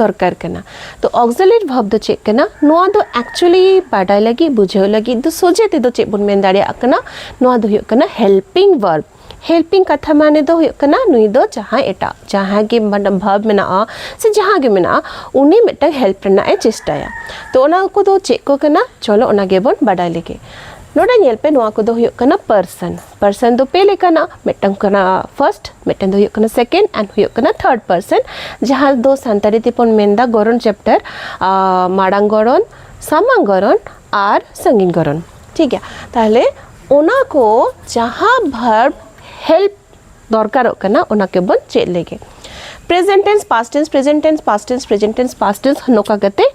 ᱫᱚᱨᱠᱟᱨ ᱠᱟᱱᱟ ᱛᱚ ᱚᱠᱥᱤᱞᱮᱴ ᱵᱷᱟᱵᱽ ᱫᱚ ᱪᱮᱫ ᱠᱟᱱᱟ ᱱᱚᱣᱟ ᱫᱚ ᱮᱠᱪᱩᱭᱮᱞᱤ ᱵᱟᱰᱟᱭ ᱞᱟᱹᱜᱤᱫ ᱵᱩᱡᱷᱟᱹᱣ ᱞᱟᱹᱜᱤᱫ ᱫᱚ ᱥᱚᱡᱷᱮ ᱛᱮᱫᱚ ᱪᱮᱫ ᱵᱚᱱ ᱢᱮᱱ ᱫᱟᱲᱮᱭᱟᱜ ᱠᱟᱱᱟ ᱱᱚᱣᱟ ᱫᱚ ᱦᱩᱭᱩᱜ ᱠᱟᱱᱟ ᱦᱮᱞᱯᱤᱝ ᱵᱷᱟᱨᱵᱽ ᱦᱮᱞᱯᱤᱝ ᱠᱟᱛᱷᱟ ᱢᱟᱱᱮ ᱫᱚ ᱦᱩᱭᱩᱜ ᱠᱟᱱᱟ ᱱᱩᱭ ᱫᱚ ᱡᱟᱦᱟᱸᱭ ᱮᱴᱟᱜ ᱡᱟᱦᱟᱸᱭ ᱜᱮ ᱵᱷᱟᱨᱵᱽ ᱢᱮᱱᱟᱜᱼᱟ ᱥᱮ ᱡᱟᱦᱟᱸ ᱜᱮ ᱢᱮᱱᱟᱜᱼᱟ ᱩᱱᱤ ᱢᱤᱫᱴᱟᱝ ᱦᱮᱞᱯ ᱨᱮᱱᱟᱜ ᱮ ᱪᱮᱥᱴᱟᱭᱟ ᱛᱚ ᱚᱱᱟ ᱠᱚᱫᱚ ᱪᱮᱫ ᱠᱚ ᱠᱟᱱᱟ ᱪᱚᱞᱚ ᱚᱱᱟ ᱜᱮᱵᱚᱱ ᱵᱟᱰᱟᱭ ᱞᱮᱜᱮ ᱱᱚᱰᱮ ᱧᱮᱞ ᱯᱮ ᱱᱚᱣᱟ ᱠᱚᱫᱚ ᱦᱩᱭᱩᱜ ᱠᱟᱱᱟ ᱯᱟᱨᱥᱚᱱ ᱯᱟᱨᱥᱮᱱ ᱫᱚ ᱯᱮ ᱞᱮᱠᱟᱱᱟ ᱢᱤᱫᱴᱟᱝ ᱠᱟᱱᱟ ᱯᱷᱟᱨᱥᱴ ᱢᱤᱫᱴᱟᱝ ᱫᱚ ᱦᱩᱭᱩᱜ ᱠᱟᱱᱟ ᱥᱮᱠᱮᱱᱰ ᱟᱨ ᱦᱩᱭᱩᱜ ᱠᱟᱱᱟ ᱛᱷᱟᱨᱰ ᱯᱟᱨᱥᱮᱱ ᱡᱟᱦᱟᱸ ᱫᱚ ᱥᱟᱱᱛᱟᱲᱤ ᱛᱮᱵᱚᱱ ᱢᱮᱱᱫᱟ ᱜᱚᱨᱚᱱ ᱪᱮᱯᱴᱟᱨ ᱢᱟᱲᱟᱝ ᱜᱚᱨᱚᱱ ᱥᱟᱢᱟᱝ ᱜᱚᱨᱚᱱ ᱟᱨ ᱥᱟᱺᱜᱤᱧ ᱜᱚᱨᱚᱱ ᱴᱷᱤᱠ ᱜᱮᱭᱟ ᱛᱟᱦᱞᱮ ᱚᱱᱟ ᱠᱚ ᱡᱟᱦᱟᱸ ᱵᱷᱟᱨᱵ ᱦᱮᱞᱯ ᱫᱚᱨᱠᱟᱨᱚᱜ ᱠᱟᱱᱟ ᱚᱱᱟ ᱠᱚᱵᱚᱱ ᱪᱮᱫ ᱞᱮᱜᱮ present tense past tense present tense past tense present tense past tense ᱱᱚᱝᱠᱟ ᱠᱟᱛᱮ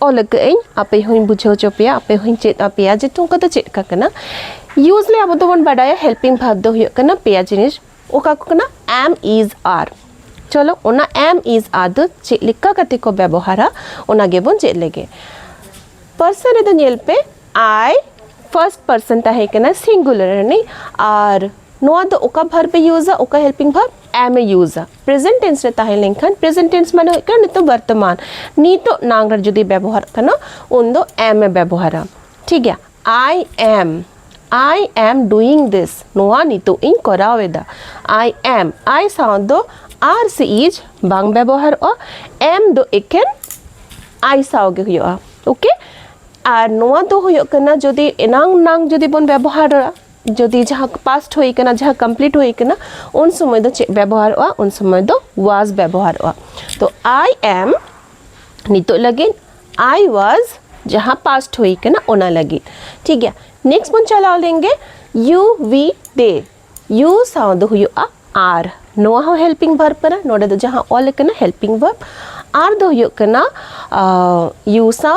ᱚᱞ ᱟᱠᱟᱫ ᱟᱹᱧ ᱟᱯᱮ ᱦᱚᱸᱧ ᱵᱩᱡᱷᱟᱹᱣ ᱦᱚᱪᱚ ᱯᱮᱭᱟ ᱟᱯᱮ ᱦᱚᱸᱧ ᱪᱮᱫ ᱟᱯᱮᱭᱟ ᱡᱮ ᱴᱩᱝᱠᱟᱹ ᱫᱚ ᱪᱮᱫ ᱞᱮᱠᱟ ᱠᱟᱱᱟ ᱭᱩᱡᱽᱞᱤ ᱟᱵᱚ ᱫᱚᱵᱚᱱ ᱵᱟᱰᱟᱭᱟ ᱦᱮᱞᱯᱤᱝ ᱵᱷᱟᱨᱵ ᱫᱚ ᱦᱩᱭᱩᱜ ᱠᱟᱱᱟ ᱯᱮᱭᱟ ᱡᱤᱱᱤᱥ ᱚᱠᱟ ᱠᱚ ᱠᱟᱱᱟ ᱮᱢ ᱤᱡᱽ ᱟᱨ ᱪᱚᱞᱚ ᱚᱱᱟ ᱮᱢ ᱤᱡᱽ ᱟᱨ ᱫᱚ ᱪᱮᱫ ᱞᱮᱠᱟ ᱠᱟᱛᱮ ᱠᱚ ᱵᱮᱵᱚᱦᱟᱨᱟ ᱚᱱᱟ ᱜᱮᱵᱚᱱ ᱪᱮᱫ ᱞᱮᱜᱮ ᱯᱟᱨᱥᱚᱱ ᱨᱮᱫᱚ ᱧᱮᱞ ᱯᱮ ᱟᱭ ᱯᱷᱟᱨᱥᱴ ᱯᱟᱨᱥᱚᱱ ᱛᱟᱦᱮᱸ ᱠᱟᱱᱟ ᱥᱤᱝᱜᱩᱞᱟᱨ ᱨᱤᱱᱤᱡ ᱟᱨ ᱱᱚᱣᱟ ᱫᱚ ᱚᱠᱟ ᱵᱷᱟᱨᱵ ᱮ ᱭᱩᱡᱟ ᱚᱠᱟ ᱦᱮᱞᱯᱤᱝ ᱵᱷᱟᱨᱵ ᱮᱢ ᱮ ᱭᱩᱡᱟ ᱯᱨᱮᱡᱮᱱᱴ ᱴᱮᱱᱥ ᱨᱮ ᱛᱟᱦᱮᱸ ᱞᱮᱱᱠᱷᱟᱱ ᱯᱨᱮᱡᱮᱱᱴ ᱴᱮᱱᱥ ᱢᱟᱱᱮ ᱦᱩᱭᱩᱜ ᱠᱟᱱᱟ ᱱᱤᱛᱚᱜ ᱵᱚᱨᱛᱚᱢᱟᱱ ᱱᱤᱛᱚᱜ ᱱᱟᱝ ᱨᱮ ᱡᱩᱫᱤ ᱵᱮᱵᱚᱦᱟᱨ ᱠᱟᱱᱟ ᱩᱱ ᱫᱚ ᱮᱢ ᱮ ᱵᱮᱵᱚᱦᱟᱨᱟ ᱴᱷᱤᱠ ᱜᱮᱭᱟ ᱟᱭ ᱮᱢ ᱟᱭ ᱮᱢ ᱰᱩᱭᱤᱝ ᱫᱤᱥ ᱱᱚᱣᱟ ᱱᱤᱛᱚᱜ ᱤᱧ ᱠᱚᱨᱟᱣ ᱮᱫᱟ ᱟᱭ ᱮᱢ ᱟᱭ ᱥᱟᱶ ᱫᱚ ᱟᱨ ᱥᱮ ᱤᱡ ᱵᱟᱝ ᱵᱮᱵᱚᱦᱟᱨᱚᱜᱼᱟ ᱮᱢ ᱫᱚ ᱮᱠᱮᱱ ᱟᱭ ᱥᱟᱶ ᱜᱮ ᱦᱩᱭᱩᱜᱼᱟ ᱳᱠᱮ ᱟᱨ ᱱᱚᱣᱟ ᱫᱚ ᱦᱩᱭᱩᱜ ᱠᱟᱱᱟ ᱡᱩᱫᱤ ᱮᱱᱟᱝ ᱱᱟᱝ ᱡᱩᱫᱤ ᱵᱚᱱ ᱵᱮᱵᱚᱦᱟᱨᱟ ᱡᱩᱫᱤ ᱡᱟᱦᱟᱸ ᱯᱟᱥᱴ ᱦᱩᱭ ᱠᱟᱱᱟ ᱡᱟᱦᱟᱸ ᱠᱚᱢᱯᱞᱤᱴ ᱦᱩᱭ ᱠᱟᱱᱟ ᱩᱱ ᱥᱚᱢᱚᱭ ᱫᱚ ᱪᱮᱫ ᱵᱮᱵᱚᱦᱟᱨᱚᱜᱼᱟ ᱩᱱ ᱥᱚᱢᱚᱭ ᱫᱚ ᱣᱟᱡᱽ ᱵᱮᱵᱚᱦᱟᱨᱚᱜᱼᱟ ᱛᱚ ᱟᱭ ᱮᱢ ᱱᱤᱛᱚᱜ ᱞᱟᱹᱜᱤᱫ ᱟᱭ ᱣᱟᱡᱽ ᱡᱟᱦᱟᱸ ᱯᱟᱥᱴ ᱦᱩᱭ ᱠᱟᱱᱟ ᱚᱱᱟ ᱞᱟᱹᱜᱤᱫ ᱴᱷᱤᱠ ᱜᱮᱭᱟ ᱱᱮᱠᱥᱴ ᱵᱚᱱ ᱪᱟᱞᱟᱣ ᱞᱮᱱᱜᱮ ᱭᱩ ᱣᱤ ᱰᱮ ᱭᱩ ᱥᱟᱶ ᱫᱚ ᱦᱩᱭᱩᱜᱼᱟ ᱟᱨ ᱱᱚᱣᱟ ᱦᱚᱸ ᱦᱮᱞᱯᱤᱝ ᱵᱷᱟᱨᱵ ᱠᱟᱱᱟ ᱱᱚᱰᱮ ᱫᱚ ᱡᱟᱦᱟᱸ ᱚᱞ ᱠᱟᱱᱟ ᱦᱮᱞᱯᱤᱝ ᱵᱷᱟᱨᱵ ᱟᱨ ᱫᱚ ᱦᱩᱭᱩᱜ ᱠᱟᱱᱟ ᱭᱩ ᱥᱟᱶ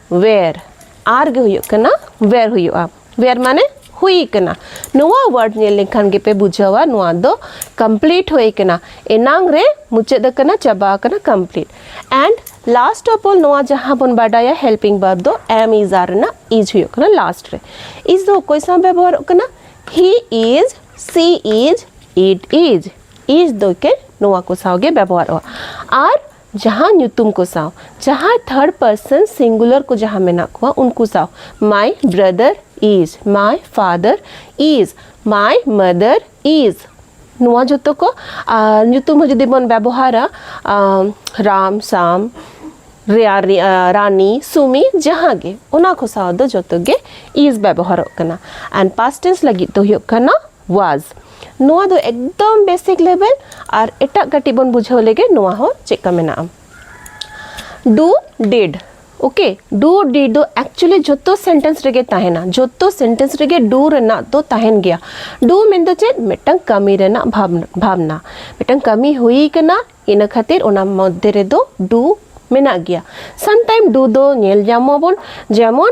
ᱣᱮᱨ ᱟᱨ ᱜᱮ ᱦᱩᱭᱩᱜ ᱠᱟᱱᱟ ᱣᱮᱨ ᱦᱩᱭᱩᱜᱼᱟ ᱣᱮᱨ ᱢᱟᱱᱮ ᱦᱩᱭ ᱠᱟᱱᱟ ᱱᱚᱣᱟ ᱣᱟᱨᱰ ᱧᱮᱞ ᱞᱮᱱᱠᱷᱟᱱ ᱜᱮᱯᱮ ᱵᱩᱡᱷᱟᱹᱣᱟ ᱱᱚᱣᱟ ᱫᱚ ᱠᱚᱢᱯᱞᱤᱴ ᱦᱩᱭ ᱠᱟᱱᱟ ᱮᱱᱟᱝ ᱨᱮ ᱢᱩᱪᱟᱹᱫ ᱟᱠᱟᱱᱟ ᱪᱟᱵᱟ ᱟᱠᱟᱱᱟ complete and last of all ᱱᱚᱣᱟ ᱡᱟᱦᱟᱸ ᱵᱚᱱ ᱵᱟᱰᱟᱭᱟ ᱦᱮᱞᱯᱤᱝ ᱵᱟᱨᱵ ᱫᱚ ᱮᱢ ᱤᱡ ᱟᱨ ᱨᱮᱱᱟᱜ ᱤᱡ ᱦᱩᱭᱩᱜ ᱠᱟᱱᱟ ᱞᱟᱥᱴ ᱨᱮ ᱤᱡ ᱫᱚ ᱚᱠᱚᱭ ᱥᱟᱶ ᱵᱮᱵᱚᱦᱟᱨᱚᱜ ᱠᱟᱱᱟ ᱦᱤ ᱤᱡ ᱥᱤ ᱤᱡ ᱤᱴ ᱤᱡ ᱤᱡ ᱫᱚ ᱠᱮ ᱱᱚᱣᱟ ᱠᱚ ᱥᱟᱶ ᱜᱮ ᱵᱮᱵᱚᱦᱟᱨᱚᱜᱼᱟ ᱟᱨ ᱡᱟᱦᱟᱸ ᱧᱩᱛᱩᱢ ᱠᱚ ᱥᱟᱶ ᱡᱟᱦᱟᱸᱭ ᱛᱷᱟᱨᱰ ᱯᱟᱨᱥᱚᱱ ᱥᱤᱝᱜᱩᱞᱟᱨ ᱠᱚ ᱡᱟᱦᱟᱸ ᱢᱮᱱᱟᱜ ᱠᱚᱣᱟ ᱩᱱᱠᱩ ᱥᱟᱶ ᱢᱟᱭ ᱵᱨᱟᱫᱟᱨ ᱤᱡᱽ ᱢᱟᱭ ᱯᱷᱟᱫᱟᱨ ᱤᱡᱽ ᱢᱟᱭ ᱢᱟᱫᱟᱨ ᱤᱡᱽ ᱱᱚᱣᱟ ᱡᱚᱛᱚ ᱠᱚ ᱟᱨ ᱧᱩᱛᱩᱢ ᱦᱚᱸ ᱡᱩᱫᱤ ᱵᱚᱱ ᱵᱮᱵᱚᱦᱟᱨᱟ ᱨᱟᱢ ᱥᱟᱢ ᱨᱮᱭᱟᱨᱤ ᱨᱟᱱᱤ ᱥᱩᱢᱤ ᱡᱟᱦᱟᱸ ᱜᱮ ᱚᱱᱟ ᱠᱚ ᱥᱟᱶ ᱫᱚ ᱡᱚᱛᱚ ᱜᱮ ᱤᱡᱽ ᱵᱮᱵᱚᱦᱟᱨᱚᱜ ᱠᱟᱱᱟ ᱟᱨ ᱯᱟᱥᱴ ᱴᱮᱱᱥ ᱞᱟᱹᱜᱤᱫ ᱫᱚ ᱦᱩᱭᱩᱜ ᱠᱟᱱᱟ ᱣᱟᱡᱽ ᱱᱚᱣᱟ ᱫᱚ ᱮᱠᱫᱚᱢ ᱵᱮᱥᱤᱠ ᱞᱮᱵᱮᱞ ᱟᱨ ᱮᱴᱟᱜ ᱠᱟᱹᱴᱤᱡ ᱵᱚᱱ ᱵᱩᱡᱷᱟᱹᱣ ᱞᱮᱜᱮ ᱱᱚᱣᱟ ᱦᱚᱸ ᱪᱮᱫ ᱠᱟ ᱢᱮᱱᱟᱜᱼᱟ ᱰᱩ ᱰᱤᱰ ᱳᱠᱮ ᱰᱩ ᱰᱤᱰ ᱫᱚ ᱮᱠᱪᱩᱭᱮᱞᱤ ᱡᱷᱚᱛᱚ ᱥᱮᱱᱴᱮᱱᱥ ᱨᱮᱜᱮ ᱛᱟᱦᱮᱱᱟ ᱡᱷᱚᱛᱚ ᱥᱮᱱᱴᱮᱱᱥ ᱨᱮᱜᱮ ᱰᱩ ᱨᱮᱱᱟᱜ ᱫᱚ ᱛᱟᱦᱮᱱ ᱜᱮᱭᱟ ᱰᱩ ᱢᱮᱱᱫᱚ ᱪᱮᱫ ᱢᱤᱫᱴᱟᱝ ᱠᱟᱹᱢᱤ ᱨᱮᱱᱟᱜ ᱵᱷᱟᱵᱽᱱᱟ ᱢᱤᱫᱴᱟᱝ ᱠᱟᱹᱢᱤ ᱦᱩᱭ ᱠᱟᱱᱟ ᱤᱱᱟᱹ ᱠᱷᱟᱹᱛᱤᱨ ᱚᱱᱟ ᱢᱚᱫᱽᱫᱷᱮ ᱨᱮᱫᱚ ᱰᱩ ᱢᱮᱱᱟᱜ ᱜᱮᱭᱟ ᱥᱟᱢᱴᱟᱭᱤᱢ ᱰᱩ ᱫᱚ ᱧᱮᱞ ᱧᱟᱢᱟᱵᱚᱱ ᱡᱮᱢᱚᱱ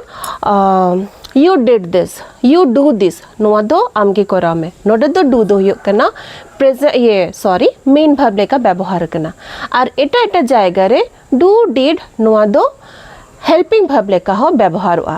ᱭᱩ ᱰᱮᱰ ᱫᱤᱥ ᱭᱩ ᱰᱩ ᱫᱤᱥ ᱱᱚᱣᱟ ᱫᱚ ᱟᱢᱜᱮ ᱠᱚᱨᱟᱣ ᱢᱮ ᱱᱚᱰᱮ ᱫᱚ ᱰᱩ ᱫᱚ ᱦᱩᱭᱩᱜ ᱠᱟᱱᱟ ᱯᱨᱮᱡ ᱤᱭᱮ ᱥᱚᱨᱤ ᱢᱮᱱ ᱵᱷᱟᱵᱽ ᱞᱮᱠᱟ ᱵᱮᱵᱚᱦᱟᱨ ᱠᱟᱱᱟ ᱟᱨ ᱮᱴᱟᱜ ᱮᱴᱟᱜ ᱡᱟᱭᱜᱟ ᱨᱮ ᱰᱩ ᱰᱤᱰ ᱱᱚᱣᱟ ᱫᱚ ᱦᱮᱞᱯᱤᱝ ᱵᱷᱟᱵᱽ ᱞᱮᱠᱟ ᱦᱚᱸ ᱵᱮᱵᱚᱦᱟᱨᱚᱜᱼᱟ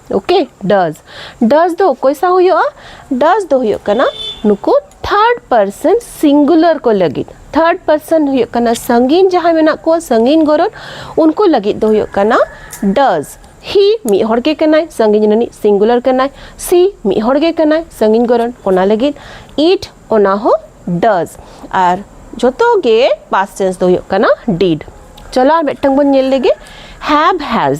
ᱳᱠᱮ ᱰᱟᱡ ᱰᱟᱡ ᱫᱚ ᱚᱠᱚᱭ ᱥᱟᱶ ᱦᱩᱭᱩᱜᱼᱟ ᱰᱟᱡ ᱫᱚ ᱦᱩᱭᱩᱜ ᱠᱟᱱᱟ ᱱᱩᱠᱩ ᱛᱷᱟᱨᱰ ᱯᱟᱨᱥᱚᱱ ᱥᱤᱝᱜᱩᱞᱟᱨ ᱠᱚ ᱞᱟᱹᱜᱤᱫ ᱛᱷᱟᱨᱰ ᱯᱟᱨᱥᱚᱱ ᱦᱩᱭᱩᱜ ᱠᱟᱱᱟ ᱥᱟᱺᱜᱤᱧ ᱡᱟᱦᱟᱸᱭ ᱢᱮᱱᱟᱜ ᱠᱚᱣᱟ ᱥᱟᱺᱜᱤᱧ ᱜᱚᱨᱚᱱ ᱩᱱᱠᱩ ᱞᱟᱹᱜᱤᱫ ᱫᱚ ᱦᱩᱭᱩᱜ ᱠᱟᱱᱟ ᱰᱟᱡ ᱦᱤ ᱢᱤᱫ ᱦᱚᱲ ᱜᱮ ᱠᱟᱱᱟᱭ ᱥᱟᱺᱜᱤᱧ ᱨᱤᱱᱤᱡ ᱥᱤᱝᱜᱩᱞᱟᱨ ᱠᱟᱱᱟᱭ ᱥᱤ ᱢᱤᱫ ᱦᱚᱲ ᱜᱮ ᱠᱟᱱᱟᱭ ᱥᱟᱺᱜᱤᱧ ᱜᱚᱨᱚᱱ ᱚᱱᱟ ᱞᱟᱹᱜᱤᱫ ᱤᱴ ᱚᱱᱟ ᱦᱚᱸ ᱰᱟᱡ ᱟᱨ ᱡᱚᱛᱚ ᱜᱮ ᱯᱟᱥ ᱴᱮᱱᱥ ᱫᱚ ᱦᱩᱭᱩᱜ ᱠᱟᱱᱟ ᱰᱤᱰ ᱪᱚᱞᱚ ᱟᱨ ᱢᱤᱫᱴᱟᱝ ᱵᱚᱱ ᱧᱮᱞ ᱞᱮᱜᱮ ᱦᱮᱵ ᱦᱮᱡ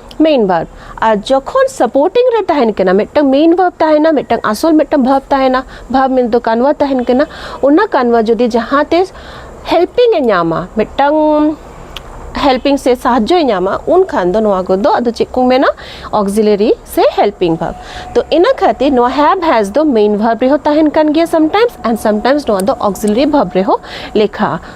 ᱢᱮᱭᱤᱱ ᱵᱷᱟᱨᱵ ᱟᱨ ᱡᱚᱠᱷᱚᱱ ᱥᱟᱯᱳᱨᱴᱤᱝ ᱨᱮ ᱛᱟᱦᱮᱱ ᱠᱟᱱᱟ ᱢᱤᱫᱴᱟᱝ ᱢᱮᱭᱤᱱ ᱵᱷᱟᱨᱵ ᱛᱟᱦᱮᱱᱟ ᱢᱤᱫᱴᱟᱝ ᱟᱥᱚᱞ ᱢᱤᱫᱴᱟᱝ ᱵᱷᱟᱨᱵ ᱛᱟᱦᱮᱱᱟ ᱵᱷᱟᱨᱵ ᱢᱤᱱ ᱫᱚ ᱠᱟᱱᱣᱟ ᱛᱟᱦᱮᱱ ᱠᱟᱱᱟ ᱚᱱᱟ ᱠᱟᱱᱣᱟ ᱡᱩᱫᱤ ᱡᱟᱦᱟᱸ ᱛᱮ ᱦᱮᱞᱯᱤᱝ ᱮ ᱧᱟᱢᱟ ᱢᱤᱫᱴᱟᱝ ᱦᱮᱞᱯᱤᱝ ᱥᱮ ᱥᱟᱦᱟᱡᱽᱡᱚᱭ ᱧᱟᱢᱟ ᱩᱱᱠᱷᱟᱱ ᱫᱚ ᱱᱚᱣᱟ ᱠᱚᱫᱚ ᱟᱫᱚ ᱪᱮᱫ ᱠᱚ ᱢᱮᱱᱟ ᱚᱠᱥᱤᱞᱟᱨᱤ ᱥᱮ ᱦᱮᱞᱯᱤᱝ ᱵᱷᱟᱨᱵ ᱛᱚ ᱤᱱᱟᱹ ᱠᱷᱟᱹᱛᱤᱨ ᱱᱚᱣᱟ ᱦᱮᱵ ᱦᱮᱡ ᱫᱚ ᱢᱮᱭᱤᱱ ᱵᱷᱟᱨᱵ ᱨᱮᱦᱚᱸ ᱛᱟᱦᱮᱱ ᱠᱟᱱ ᱜᱮᱭᱟ ᱥᱟᱢᱴᱟᱭᱢᱥ ᱮᱱᱰ ᱥᱟᱢᱴᱟᱭᱢᱥ ᱱᱚᱣᱟ ᱫᱚ ᱚᱠᱥᱤᱞᱟᱨᱤ ᱵᱷᱟᱨᱵ ᱨᱮᱦᱚᱸ ᱞᱮᱠᱷᱟᱜᱼᱟ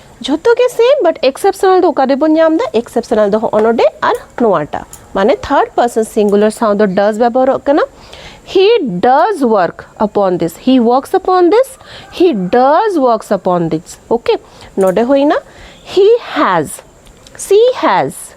ᱡᱷᱚᱛᱚ ᱜᱮ ᱥᱮᱢ ᱵᱟᱴ ᱮᱠᱥᱮᱯᱥᱚᱱᱟᱞ ᱫᱚ ᱚᱠᱟ ᱨᱮᱵᱚᱱ ᱧᱟᱢ ᱮᱫᱟ ᱮᱠᱥᱮᱯᱥᱚᱱᱟᱞ ᱫᱚ ᱦᱚᱸᱜᱼᱚ ᱱᱚᱰᱮ ᱟᱨ ᱱᱚᱣᱟᱴᱟᱜ ᱢᱟᱱᱮ ᱛᱷᱟᱨᱰ ᱯᱟᱨᱥᱚᱱ ᱥᱤᱝᱜᱩᱞᱟᱨ ᱥᱟᱶ ᱫᱚ ᱰᱟᱡᱽ ᱵᱮᱵᱚᱦᱟᱨᱚᱜ ᱠᱟᱱᱟ ᱦᱤ ᱰᱟᱡᱽ ᱣᱟᱨᱠ ᱟᱯᱚᱱ ᱫᱤᱥ ᱦᱤ ᱣᱟᱨᱠᱥ ᱟᱯᱚᱱ ᱫᱤᱥ ᱦᱤ ᱰᱟᱡᱽ ᱣᱟᱨᱠᱥ ᱟᱯᱚᱱ ᱫᱤᱥ ᱳᱠᱮ ᱱᱚᱰᱮ ᱦᱩᱭᱱᱟ ᱦᱤ ᱦᱮᱡᱽ ᱥᱤ ᱦᱮᱡᱽ